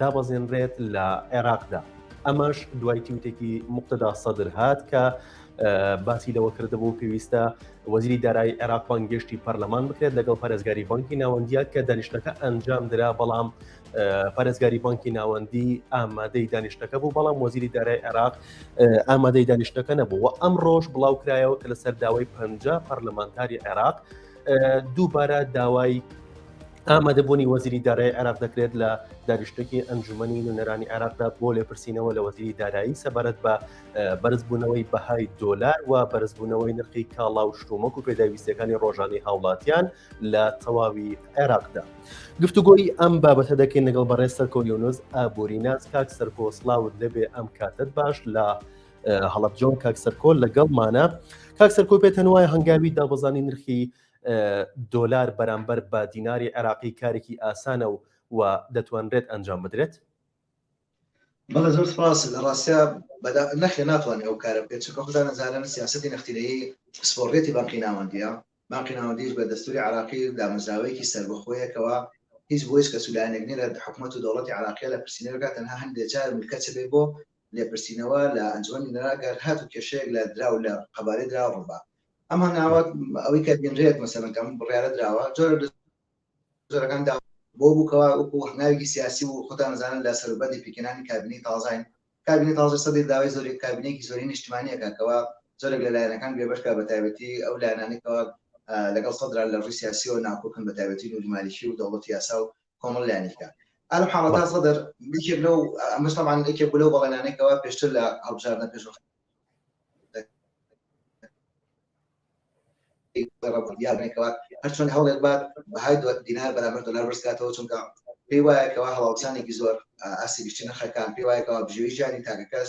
دابەزێنرێت لە عێراقدا. ئەمەش دوای تووتێکی مقتدا سەدر هات کە باسی لەوە کردبوو پێویستە وەزیری دارایی عێراق بانگێشتی پەرلەمان بکرێت لەگەڵ پارێزگاری بانکی ناوەندیە کە دانیشتەکە ئەنجام درا بەڵام پارێزگاری بانکی ناوەندی ئامادەی دانیشتەکە بوو بەڵام وەزیری دارای عێراق ئامادەی دانیشتەکە نەبوو و ئەم ڕۆژ بڵاوکرایەوە کە لەسەر داوای پ پەرلەمانتاری عێراق دووبارە داوای ئامادەبوونی وەزیری دارای عێراق دەکرێت لە دانیشتێکی ئەنجومی نوێنەرانی عێراقدا بۆ لێپرسینەوە لە وەزیری دارایی سەبارەت بە بەرزبوونەوەی بەهای دۆلار و بەرزبوونەوەی نرخی کاڵا و شتومەک و پێداویستەکانی ڕۆژانی هاوڵاتیان لە تەواوی عێراقدا. گفتوگۆی ئەم بابەتە دەکەین لەگەڵ بەڕێز سەرکۆلیۆنز ئابووری ناز کاک سەرکۆسلااوت لەبێ ئەم کاتت باش لە هەڵەب جۆن کاک سەرکۆل لەگەڵمانە کاک سەرکۆ پێتەن وایە هەنگاوی دابەزانی نرخی دۆلار بەرامبەر بە دیناری عێراقی کارێکی ئاسانە و و دەتوانرێت ئەنجام بدرێت بەڵێ زۆر سپاس لە ڕاستە نەخێ ناتوانێت ئەو کارە بکەێت چکە خدا نەزانن سیاستی نەختینەیە پسپۆڕێتی بانقی ناوەندیە بانقی ناوەندیش بە دەستوری عراقی دامەزراوەیەکی سربەخۆیەکەوە هیچ بۆیس کە سولانێک نیرە حکوومەت و دەوڵەتی عراقیە لە پرسیینەکە تەنها هەندێک جار ملکەچ بێ بۆ لێپرسینەوە لە ئەنجومەنی نوێنەران گەر هاتوو کێشەیەک لە دراو لە قەبارەی دراو ڕووبا ئەم هەنگاوە ئەوەی کە بینرێت مەسەلەن کەم بڕیارە دراوە جۆرە جۆرەکان دا بۆ بوو کەوا وەکو هەنگاوێکی سیاسی و خۆتان نەزانن لە سەروبەندی پێکهێنانی کابینەی تازاین کابینەی تازە سەدر داوای زۆری کابینەیەکی زۆری نیشتمانیەکە کەوا زۆرێک لە لایەنەکان بێبەشکە بە تایبەتی ئەو لایەنانێکەوە لەگەڵ سەدران لە ڕووی سیاسیەوە ناکۆکن بە تایبەتی نوری مالیکی و دەوڵەتی یاسا و کۆمەڵ لایەنیکە ئەم حاڵەتا سەدر بچێت لەو ئەمەشتەمان ئەکێ بلو بەڵێنانێکەوە پێشتر لە هەڵبژاردنە پێش یاێکەوە هەرچۆن هەوڵێک بات بەهای دوات دینار بەرامەر دلار بەرزکاتەوە چونکە پێی وایەکەوە هەڵاوسانێکی زۆر ئاسی گشتی نرخەکان پێی وایەکەوە بژێوی ژیانی تاکەکەس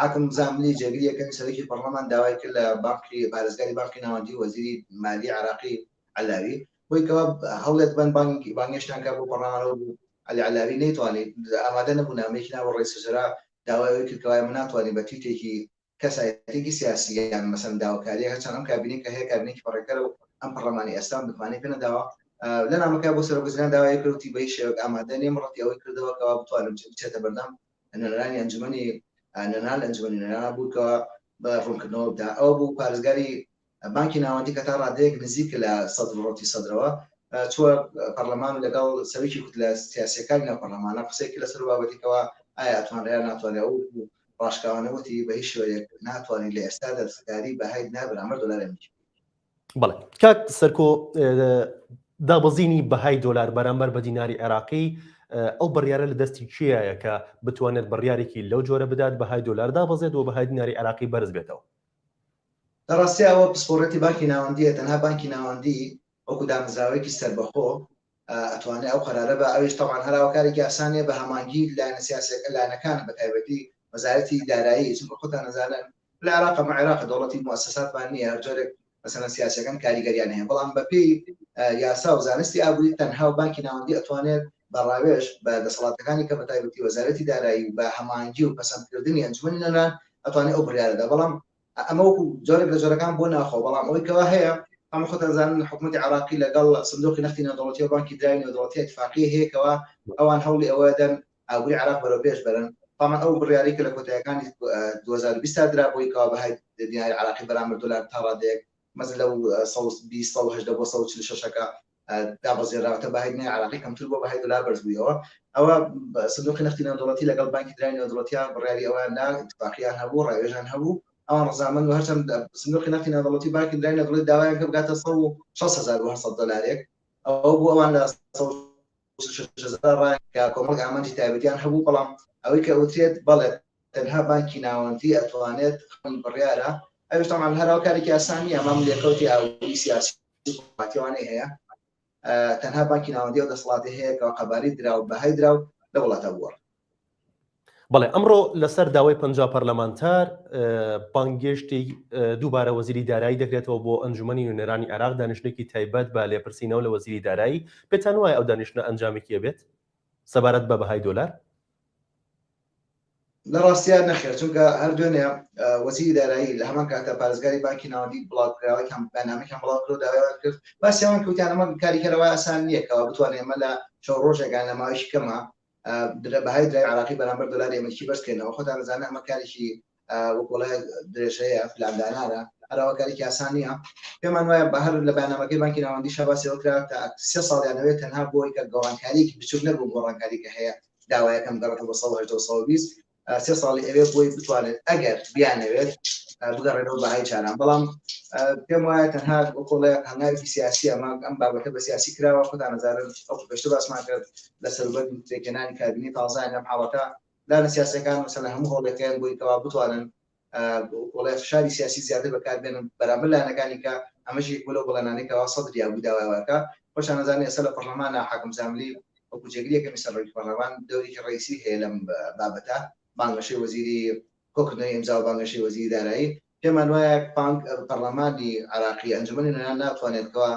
حاتم زاملی جێگریەکەی سەرۆکی پەڕڵەمان داوای کرد لە بانقی پارێزگاری بانقی ناوەندی و وەزیری مالیەی عێراقی عەلاوی بۆی کەوا هەوڵێک بەن بانگی بانگێشتان کە بۆ پەڕڵەمانەوە بوو عەلی عەلاوی نەیتوانی ئامادە نەبوو نامەیەکی ناوە ڕێی سەجەرا داوای ئەوەی کرد کەوا ئێمە ناتوانین بە تویتێکی کەسایەتێکی سیاسی یان مەسەن داوکاریە هەرچەند ئەم کابینەی کە هەیە کابینێکی پەڕێکەرە و ئەم پەڕلەمانی ئێستا متمانەی پێ نەداوە لە نامەکە بۆ سەرۆکوزیران داوای کرد و تیبەی شێوەک ئامادە نیم ڕەتی ئەوەی کردەوە کەوا بتوانم بچێتە بەردەم نوێنەرانی ئەنجومەنی نوێنەران لە ئەنجومەنی نوێنەران بوو کە بە ڕوونکردنەوەدا ئەوە بوو پارێزگاری بانکی ناوەندی کە تا ڕادەیەک نزیک لە سەدر و ڕوتی سەدرەوە چووە پەرلەمان و لەگەڵ سەرکی کوتلە سیاسیەکانی ناو پەرلەمانە قسەی کرد لەسەر بابەتێکەوە ئایا ئەتوانرێ یان ناتوانرێ ئەو ڕاشکاوانە وتی بە هیچ شێوەیەک ناتوانین لە ئێستادا دەستکاری بەهای نابرامەر دۆلار ئەمریکی بەڵێ کاک سەرکۆ دابەزینی بەهای دۆلار بەرامبەر بە دیناری عێراقی ئەو بڕیارە لە دەستی کێایە کە بتوانێت بڕیارێکی لەو جۆرە بدات بەهای دۆلار دابەزێت و بەهای دیناری عێراقی بەرز بێتەوە لە ڕاستیەوە پسپۆڕێتی بانکی ناوەندیە تەنها بانکی ناوەندی وەکو دامەزراوەیەکی سەربەخۆ ئەتوانێ ئەو قەرارە با ئەویش تەبعەن هەر ئاوا کارێکی ئاسان نیە بە هەمانگی لایەنە سیاسیەکە لایەنەکان بە تایبەتی وەزارەتی دارایی چونکە خۆتان ئەزانن لە عێراق ئەمە عێراقە دەوڵەتی موسەساتمان نیە هەر جۆرێک مەسەلەن سیاسیەکان کاریگەریان هەیە بەڵام بەپێی یاسا و زانستی ئابووری تەنها و بانکی ناوەندی ئەتوانێت بە ڕاوێژ بە دەسەڵاتەکانی کە بە تایبەتی وەزارەتی دارایی و بە هەمانگی و پەسەندکردنی ئەنجومەنی نەنان ئەتوانێت ئەو بڕیارەدا بەڵام ئەمە وەکو جۆرێک لە جۆرەکان بۆ ناوخۆ، بەڵام ئەوەی کەوا هەیە، هەموو خۆتان دەزانن حکومەتی عێراقی لەگەڵ سندوقی نەختی نێودەوڵەتی و بانکی دراوی نێودەوڵەتی ئیتفاقیەی هەیە کەوا ئەوان هەوڵی ئەوە دەدەن ئابووری عێراق بەرەو پێش بەرن، تامان ئەو بڕیارەی کە لە کۆتاییەکانی دوو هەزار و بیست دا درا بۆی کەوا بەهای دیناری عێراقی بەرامبەر دۆلار تا ڕادەیەک مەزن لەو سەد و بیست، سەد و هەژدە بۆ سەد و چل و شەش ەکە دابەزێنراوەتە بەهای دنیای عێراقی کەمتر بووە بەهای دۆلار بەرزبوویەوە ئەوە سندوقی نەختی نێودەوڵەتی لەگەڵ بانکی دراوی نێودەوڵەتییان بڕیاری ئەوەیان دا ئیتفاقییان هەبوو ڕاوێژیان هەبوو ئەوان ڕەزامەند و هەرچەند سندوقی نەختی نێودەوڵەتی بانکی دراوی نێودەوڵەتی داوایان کە بگاتە 160 هەزار و 800 دۆلارێک ئەوە بوو ئەوان لە کۆمەڵ ئامانجی تایبەتیان هەبوو بەڵام ئەوەی کە ئەوترێت بەڵێ تەنها بانکی ناوەندی ئەتوانێت بڕیارە ئەوش تامان هەراو کارێکی ئاسانی ئەمام لێکەوتی ئاوی سیاسی دەسەڵاتی ئەوانەی هەیە تەنها بانکی ناوەندی و دەسەڵاتی هەیە کە قەباری دراو بەهای دراو لە وڵاتە بووە بەڵێ ئەمڕۆ لەسەر داوای پ پەرلەمانتار بانگێشتی دووبارە وەزیری دارایی دەکرێتەوە بۆ ئەنجومی نوێنەرانی عراق دانیشتێکی تایبەت بە لێپرسینەوە لە وەزیری دارایی پێتان وایە ئەو دانیشتە ئەنجامێکیە بێت سەبارەت بە بەهای دۆلار لە ڕاستیا نەخێر چونکە هەر دوێنێ وەزیری دارایی لە هەمان کاتە پارێزگاری بانکی ناوەندی بڵاوکراوەکان بەنامەکان بڵاو کرد داوایان کرد باسییان کەوتیان ئەمە کاریکەرەوە ئاسان نییەکەوە بتوانێت ئمە لە چەو ڕۆژێکان لە ماوەیش کەمە درە بەهای درای عراقی بەرامبەر دلاری ئەمریکی بەرزکردنەوە خۆتان زانە ئەمە کارێکی وەکڵێ درێژەیە پلاندانانە هەراوەکارێکی ئاسان نییە پێمان وایە بە هەر لە بەنامەکەی بانکی ناوەندی شەباسەوە کرا تا سێ ساڵیانەوەی تەنها بۆی کە گەڕانکاریێکی بچوک نەبوو گۆڕانکاری کە هەیە داوایەکەم گەڕێت بۆ 1920 سێ ساڵی ئەوێ بۆی بتوانێت ئەگەر بیانەوێت بگەڕێنەوە بەهای چاران بەڵام پێم وایە تەنها کۆڵێ هەنگاوی سیاسی ئەمان ئەم بابەتە بە سیاسی کراوە خۆتان نزارن ئەو پێشتە باسمان کرد لە سەروبەر پێکەنانی کابینی تازایان لەم حاڵەتە لایەنە سیاسییەکان مەسەن لە هەموو هەوڵێکەیان بۆی کەوا بتوانن کۆڵای فشاری سیاسی زیاتر بەکاربێنن بەرامبەر لایەنەکانی کە ئەمەش یەک لەو بەڵێنانەی کەوا سەدری ئەبوو داوای واکە خۆشان نەزانێ ئێستا لە پەرلەمانە حاکم زاملی وەکو جێگری یەکەمی سەرۆکی پەرلەمان دەورێکی ڕئیسی هەیە لەم بابەتە بانگەشەی وەزیری کۆکردنەوەی ئیمزا و بانگەشەی وەزیری دارایی پێمان وایە پانک پەرلەمانی عراقی ئەنجومەنی نوێنان ناتوانێت کەوا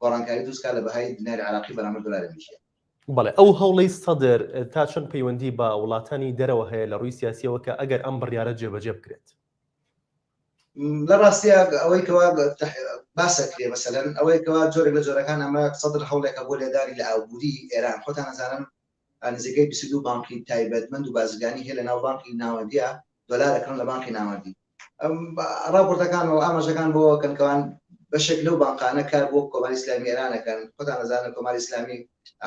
گۆڕانکاری دروستکە لە بەهای دیناری عراقی بەرامبەر دۆلاری ئەمریکی بەڵێ ئەو هەوڵەی سەدر تا چەند پەیوەندی بە وڵاتانی دەرەوە هەیە لە ڕووی سیاسییەوە کە ئەگەر ئەم بڕیارە جێبەجێ بکرێت؟ لە ڕاستیا ئەوەی کەوا باس ئەکرێ مەسەلەن ئەوەی کەوا جۆرێک لە جۆرەکان ئەمە سەدر هەوڵێکە بۆ لێدانی لە ئابووری ئێران خۆتان ئەزانن نزیکەی بیست و دوو بانقی تایبەتمەند و بازرگانی هەیە لەناو بانقی ناوەندییە دۆلار ئەکڕن لە بانقی ناوەندی ڕاپۆرتەکان و ئاماژەکان بۆ ئەوەکەن کە ئەوان بەشێک لەو بانقانە کار بۆ کۆماری ئیسلامی ئێران ئەکەن، خۆتان ئەزانن کۆماری ئیسلامی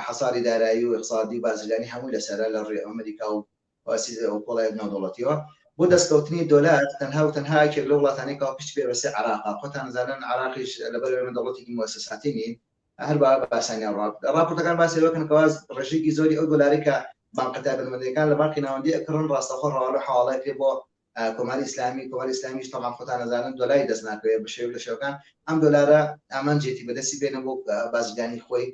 حەساری دارایی و ئیقتسادی و بازرگانی هەمووی لەسەرە لە ڕووی ئەمریکا و کۆڵای ناودەوڵەتییەوە بۆ دەستکەوتنی دۆلار تەنها و تەنها یەکێک لەو وڵاتانەی کە پشتی پێ بەستێ عێراقە، خۆتان ئەزانن عێراقیش لەبەر ئێمە دەوڵەتێکی موئەسەساتی نین. هەر بە ئاسانیان ڕاپۆرتەکان باسی لەوە ئەکەن کە ئەوان ڕێژەیەکی زۆری ئەو دۆلارەی کە بانقە تایبەتمەندەکان لە بانقی ناوەندی ئەکڕن ڕاستەوخۆ ڕەوانەی حەواڵەی پێ بۆ کۆماری ئیسلامی کۆماری ئیسلامیش تەبان خۆتان ئەزانن دۆلاری دەست ناکەوێت بە شێوە لە شێوەکان ئەم دۆلارە ئامانجێتی بەدەستی بێنە بۆ بازرگانی خۆی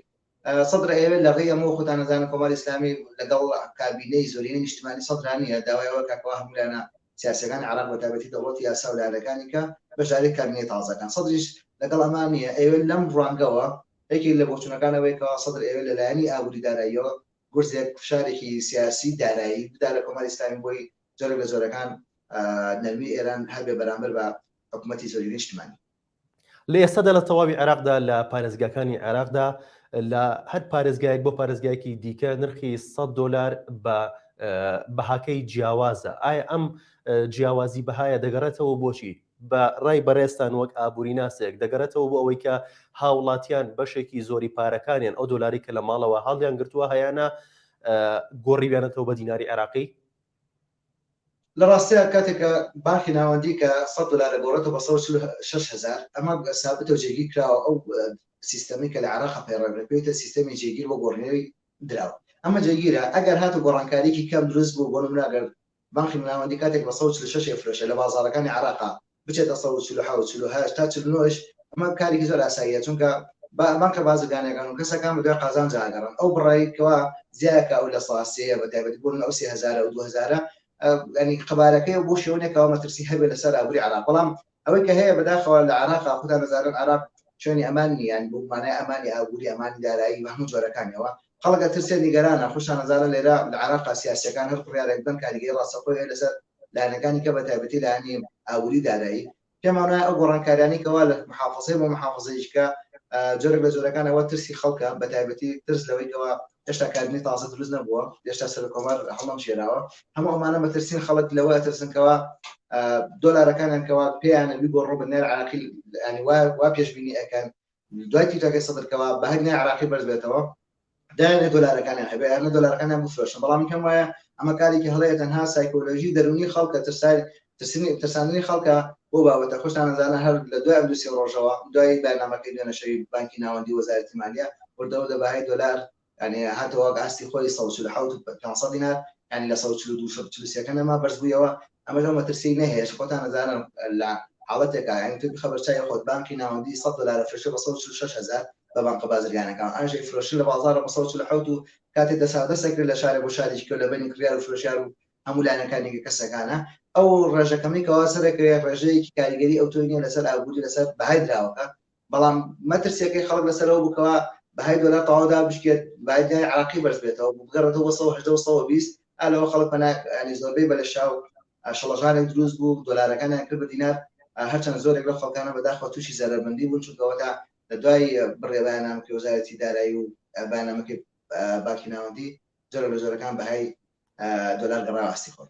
سەدر ئەوێت لە ڕێی ئەمەوە خۆتان ئەزانن کۆماری ئیسلامی لەگەڵ کابینەی زۆرینە نیشتمانی سەدرانیە داوایەوە کاکەوە هەمولانە سیاسەکان عراق بە تابەتی دەوڵەت یاسا و لایەنەکانی کە بەشداری کابینەی تازەکان سەدریش لەگەڵ ئەمان نییە ئەوێ لەم ڕوانگەوە یەکێک لە بۆچوونەکان ئەوەیە کە سەدر ئەوێ لەلایەنی ئابووری داراییەوە گورزێک فشارێکی سیاسی دارایی بدا لە کۆماری ئیسلامی بۆی جۆرێک لە جۆرەکان نەرمی ئێران هەبێ بەرامبەر بە حکوومەتی زۆری نیشتمانی لە ئێستادا لە تەواوی عێراقدا لە پارێزگاکانی عێراقدا لە هەر پارێزگایەک بۆ پارێزگایەکی دیکە نرخی 100 دلار بە بەهاکەی جیاوازە ئایا ئەم جیاوازی بەهایە دەگەڕێتەوە بۆچی بە ڕای بەڕێستان وەک ئابووری ناسێک دەگەڕێتەوە بۆ ئەوەی کە هاوڵاتیان بەشێکی زۆری پارەکانیان ئەو دۆلاری کە لە ماڵەوە هەڵیان گرتووە هەیەە گۆڕیویانەتەوە بە دیناری عراقی لە ڕاستیا کاتێک کە بانقی ناوەندی کە سەد دۆلار ئەگۆڕێتەوە بە سەد و چل و شەش هەزار ئەمە سابتە و جێگیر کراوە ئەو سیستەمەی کە لە عێراق ئەپەیڕێنرێت پێی وترێت سیستەمی جێگیر بۆ گۆڕینەوەی دراو ئەمە جێگیرە ئەگەر هات و گۆڕانکاریەکی کەم دروست بوو بۆ نمونە ئەگەر بانقی ناوەندی کاتێک بە سەد و چل و شەش ئەیفرۆشێت لە بازاڕەکانی عێراقا بچێتە سەد و چل و حەوت، چل و هەشت تا چل و نۆ یش ئەمە کارێکی زۆر ئاساییە چونکە با بانکە بازرگانیەکان و کەسەکان بە دوای قازانجا ئەگەڕێن ئەو بڕەی کەوا زیایە کە ئەو لە سا سێیە بە تایبەتی بۆ من ئەو سێ هەزارە ئەو دوو هەزارە ئە یانی قەبارەکەیە بۆ شێوەنێک کەوا مەترسی هەبێ لە سەر ئابوری عێراق بەڵام ئەوەی کە هەیە بەداخەوە لە عێراقا خودان ئەزانن عێراق شوێنی ئەمان نیە یانی بە مانای ئەمانی ئابوری ئەمانی دارایی بە هەموو جۆرەکانیەوە خەڵک ئەترسێ نیگەرانە خۆشتان ئەزانن لێرە لە عێراقا سیاسیەکان هەر بڕیارێک بدەن کاریگەری ڕاستەوخۆی هەیە لە سەر لایەنەکانی کە بە تایبەتی لایەنی ئابووری دارایی، پێمان وایە ئەو گۆڕانکاریانەی کەوا لە محافزەی بۆ محافزەیشکە جۆرێک لە جۆرەکان ئەوە ترسی خەڵکە بە تایبەتی ترس لەوەی کەوا هێشتا کابینەی تازە دروست نەبووە هێشتا سەر کۆمار هەڵم شێراوە هەموو ئەمانە بە ترسین خەڵک لەوە ئەترسنکەوە دۆلارەکانیان کەوا پێیانە بگۆڕۆ بە نێر عراقی وا پێشبینی ئەەکەن دوای تیوتاکەی سەدر کەوا بە هەگنای عراقی بەرز بێتەوە دایانێ دۆلارەکانیان هەبێ یانە دۆلارەکانیان بفرۆشن بەڵام پێم وایە ئەمە کارێکی هەڵەیە تەنها سایکۆلۆژی دەرونی خەڵکە ترسای ترسنی ترساندنی خەڵکە بۆ بابەتە خۆشتان نەزانە هەر لە دوای ئەمدوسی ڕۆژەوە دوای بەرنامەکەی دوێنەشەوی بانکی ناوەندی وەزارەتی مالیە وردەوردە بەهای دۆلار یانی هاتەوە وەک ئاستی خۆی سەد و چل و حەوت و پێنج سەد دینار یانی لە سەد و چل و دوو سەد و چل و سێ کە نەما بەرز بوویەوە ئەمەش ئەو مەترسیەی نەهەیە چ خۆتان ئەزانن لە حاڵەتێکا یانی تۆ بخە بەر چاوی خۆت بانقی ناوەندی سەد دۆلار ئەفرۆشێ بە سەد و چل و شەش هەزار بە بانقە بازرگانەکان ئەوانیش ئەیفرۆشن لە بازاڕ بە سەد و چل و حەوت و کاتێ دەسا دەس ئەکرێ لە شارێ بۆ شارێکی کەو لە بەینی کڕیار و فرۆشیار و هەموو لایەنەکان یەکە کەسەکانە ئەو ڕێژە کەمەی کە وا سەر ئەکرێ ڕێژەیەکی کاریگەری ئەوتۆی نیە لەسەر ئابووری لەسەر بەهای دراوەکە بەڵام مەترسیەکەی خەڵک لەسەر ئەوە بوو کەوا بەهای دۆلار تەواو دابشکێت، بەهای دیناری عێراقی بەرز بێتەوە، بگەڕێتەوە بۆ سەد و هەژدە و سەد و بیست، ئا لەوە خەڵک پەنا یانی زۆربەی بە لەشاو شڵەژانێک دروست بوو، دۆلارەکانیان کرد بە دینار، هەرچەند زۆرێک لەو خەڵکانە بەداخەوە تووشی زەرەرمەندی بوون، چونکە ئەوەتا لە دوای بڕێ بەیاننامەکەی وەزارەتی دارایی و بەیاننامەکەی بانکی ناوەندی، جۆرێک لە جۆرەکان بەهای دۆلار گەڕایەوە ئاستی خۆی.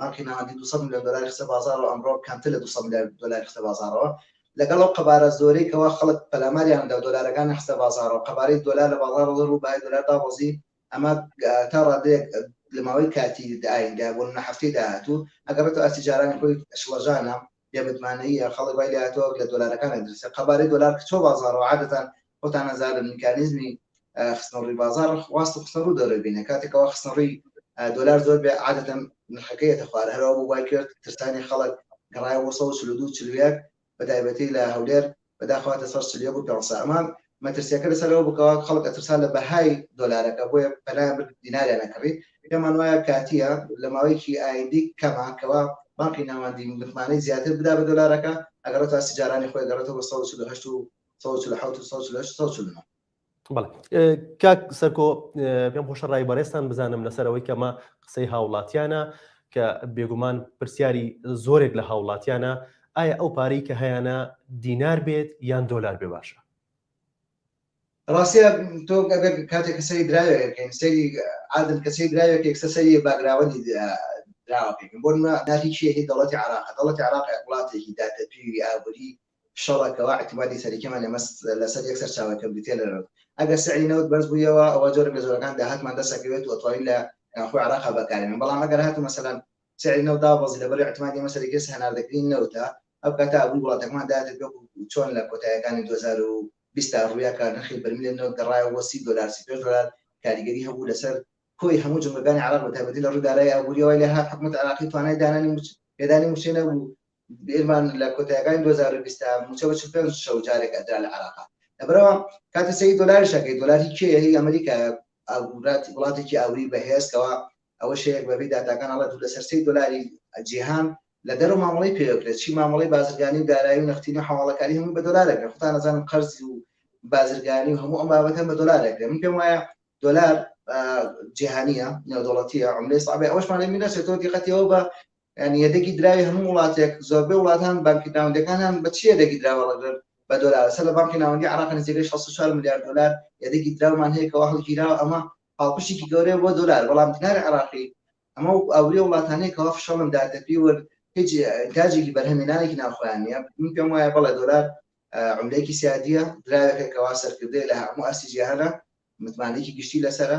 مارکی ناوەندی دوو سەد ملیۆن دۆلاری خستە بازاڕ و ئەمڕۆ کەمتر لە دوو سەد ملیار دۆلاری خستە بازاڕەوە. لەگەڵ ئەو قەبارە زۆرەی کەوا خەڵک پەلاماریان دا و دۆلارەکانیان خستە بازاڕەوە، قەبارەی دۆلار لە بازاڕ ڕۆڵ و بەهای دۆلار دابەزی، ئەمە تا ڕادەیەک لە ماوەی کاتی ئایندە، بۆ نمونە هەفتەی داهاتوو، ئەگەڕێتەوە ئاستی جارانی خۆی شڵەژانە. بێ متمانەییە، خەڵک وای لێهاتووە وەک لە دۆلارەکان ئەدرسێ، قەبارەی دۆلار کچۆ بازاڕەوە، عادەتەن خۆتان ئەزانن میکانیزمی خستنەڕووی بازاڕ واست و خستنەڕوو دەورە بینە، کاتێک کەوا خستنەڕووی دۆلار زۆر بێ عادەتەن نرخەکەی یەتە خوار، هەر ئەوە بوو وای کرد ترسانی خەڵک گەڕایە بۆ سەد و چل و دوو و چل و یەک بەتایبەتی لە هەولێر بەداخەوە هاتە سەر چل یەک و پێنج سە ئەمە مەترسیەکە لەسەر ئەوە بکەوە خەڵک ئەترسا لە بەهای دۆلارەکە بۆیە پەنایان برد دیناریان ئەکڕی پێمان وایە کاتیە لە ماوەیەکی ئایندی کەمە کەوا بانقی ناوەندی متمانەی زیاتر بدا بە دۆلارەکە ئەگەڕێتە ئاستی جارانی خۆی گەڕێتەوە بە سەد و چل و هەشت و سەد و چل و حەوت و سەد و چل و هەشت سەد و چل و نۆ کاک سەرکۆ پێم خۆشە ڕای بەڕێستان بزانم لەسەرەوەی کەمە قسەی هاوڵاتیانە کە بێگومان پرسیاری زۆرێک لە هاوڵاتیانە ئایا ئەو پارەی کە هەیەە دینار بێت یان دۆلار بێ باشە ڕاستە تۆ گەگەر کاتێک کەسەری دراوێکەکەین سەری عادن کەسی دراوێکێک سەسەری باگراوەندی دراوەکەین بۆ ناهیچیەکی دەڵەتی عراق دەڵەتی عراق وڵاتێکی دادەپیوی ئابووری شەڕە کەوا ئیعتیمادی سەرەکیمان لە مەست لەسەر یەک سەرچاوەیە کە بریتیە لە نەوت ئەگەر سعری نەوت بەرز بوویەوە ئەوا جۆرێک لە جۆرەکان داهاتمان دەست ئەکەوێت و ئەتوانین لە ناوخۆی عێراقا بەکارێنین بەڵام ئەگەر هاتوو مەسەلەن سعری نەوت دابەزی لەبەر ئیعتیمادی ئێمە سەرەکیە هەناردەکردنی نەوتە ئەو کاتە ئابووری وڵاتەکەمان دایەتە پێ و چۆن لە کۆتاییەکانی دوو هەزار و بیست تا ڕوویا کە نرخی بەرمیلی نەوت گەڕایەوە بۆ سی دۆلار سی پێنج دۆلار کاریگەری هەبوو لەسەر کۆی هەموو جومگەکانی عێراق بەتایبەتی لە ڕووی دارایی ئابوورییەوە لێهات حکومەتی عێراقی توانای دانانی مووچە پێدانی مووچەی نەبوو ئێمان لە کۆتایەکانی دوو هەزار و بیست دا مووچە بە چل پێنج شەو جارێک ئەدرا لە عێراقا. لەبەرئەوە کاتی سەیری دۆلاریش ئەکەی، دۆلاری کێیە؟ هی ئەمریکایە، ئابووراتی وڵاتێکی ئابووری بەهێز کەوا ئەوە شەیەک بەپێی داتاکان ئەڵێ دوو لەسەر سێی دۆلاری جیهان لە دەرەوە مامەڵەی پێوە کرێت، چی مامەڵەی بازرگانی و دارایی و نەختینە و حەواڵەکاری هەمووی بە دۆلار ئەکرێ، خۆتان ئەزانن قەرز و بازرگانی و هەموو ئەم بابەتە بە دۆلار ئەکرێ، من پێم وایە دۆلار جیهانییە، نێودەوڵەتییە، عوملەی سەعبە، ئەوەشمان لێ میراچێتەوە دیقەتی ئەوە بە یانی یەدەگی دراوی هەموو وڵاتێک زۆربەی وڵاتان بانکی ناوەندەکانان بە چی یەدەگی دراوە ڕەگرن بە دۆلار سەر لە بانکی ناوەندی عراق نزیکەی 64 ملیار دۆلار یەدەگی دراومان هەیە کەوا هەڵگیراوە ئەمە پاڵپشتێکی گەورەیە بۆ دۆلار بەڵام دیناری عراقی ئەمە وەکو ئەوروی وڵاتانەی کەوا فشەڵن داتەپی و هیچ ئینتاجێکی بەرهەمێنانێکی ناوخۆیان نیە من پێم وایە بەڵێ دۆلار عملەیەکی سیادیە دراوێکەکەوا سەرکردەیە لە هەموو ئاستی جیهانە متمانەیەکی گشتی لەسەرە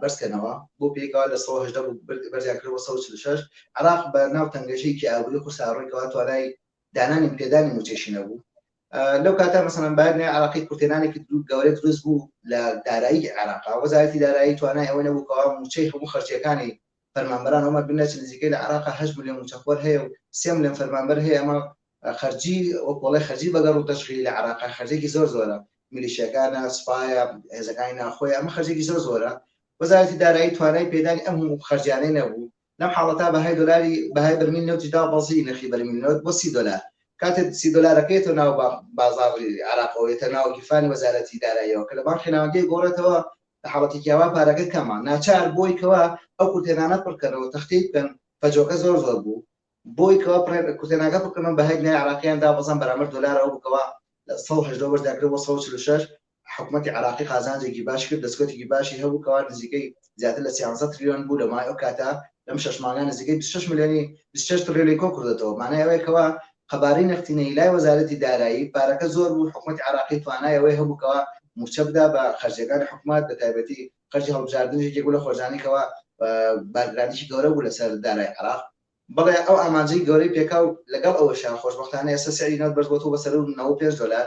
بەرزکەنەوە بۆ پێکەوە لە سەد و هەژدە بوو بەرزیان کرد بۆ سەد و چل و شەش عێراق بە ناو تەنگەژەیەکی ئابووری قورسا ڕووی کەوە توانای دانانی پێدانی موچەشی نەبوو لەو کاتە مەسەلەن بایرنی عراقی کورتێنانێکی دوو گەورە دروست بوو لە دارایی عێراقا وەزارەتی دارایی توانای ئەوەی نەبوو کەوا موچەی هەموو خەرجیەکانی فەرمانبەران ئەومان بینرا چ نزیکەی لە عێراقا هەشت ملیۆن مووچەخۆر هەیە و سێ ملیۆن فەرمانبەر هەیە ئەمە خەرجی وەک وەڵای خەرجی بەگەڕ و تەشغیلی لە عێراقا خەرجێکی زۆر زۆرە میلیشیاکانە سوپایە هێزەکانی ناخۆیە ئەمە خەرجێکی زۆر زۆرە وەزارەتی دارایی توانای پێدانی ئەم هەموو خەرجیانەی نەبوو لەم حاڵەتا بەهای دۆلاری بەهای بەرمیل نەوتی دا بەزی نرخی بەرمیل نەوت بۆ سی دۆلار کاتێک سی دۆلارەکەی تۆ ناو بازاڕی عێراقەوە یەتە ناو گیرفانی وەزارەتی داراییەوە کە لە بانقی ناوەندی گۆڕێتەوە لە حاڵەتێکی ئاوا پارەکە کەمە ناچار بۆی کەوە ئەو کورتێنانە پڕکەنەوە تەختی بکەن فەجۆکە زۆر زۆر بوو بۆی کەوە کورتێناکە بکەنەوە بە هەیت لای عراقیان دابەزان بەرامەر دۆلارەوە بکەوە لە 1970 بەش دەکرێت بۆ 1946 حکوومەتی عراقی قازانجێکی باش کرد دەستکەوتێکی باشی هەبوو کەوا نزیکەی زیاتر لە 300 تریلیۆن بوو لە مای ئەو کاتە لەم شەش مانگە نزیکەی بیست و شەش ملیۆنی بیست و شەش تڕیلیۆن کۆکردۆتەوە، مانای ئەوەیە کەوا قەبارەی نەختینەیی لای وەزارەتی دارایی پارەکە زۆر بوو، حکومەتی عێراقی توانای ئەوەی هەبوو کەوا مووچە بدا بە خەرجیەکانی حکومەت بە تایبەتی خەرجی هەڵبژاردنیش یەکێک بوو لە خۆرجانەی کەوا بارگرانیکی گەورە بوو لەسەر دارای عێراق، بەڵێ ئەو ئامانجەی گەورەی پێکا و لەگەڵ ئەوەشا خۆشبەختانە ئێستا سعری نەوت بەرز بۆتەوە بە سەروو نەوەد و پێنج دۆلار،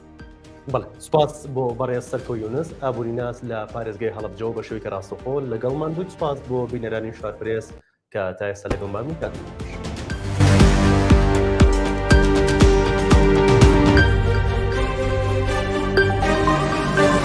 بەڵێ سپاس بۆ بەڕێز سەرکۆ یونس ئابوریناس لە پارێزگای هەڵبجەوە بە شوێکە ڕاستەخۆ لەگەڵ ماندوود سپاس بۆ بینەرانی شارپرێس کە تا ئێستا لەگەڵ مامی کاتش.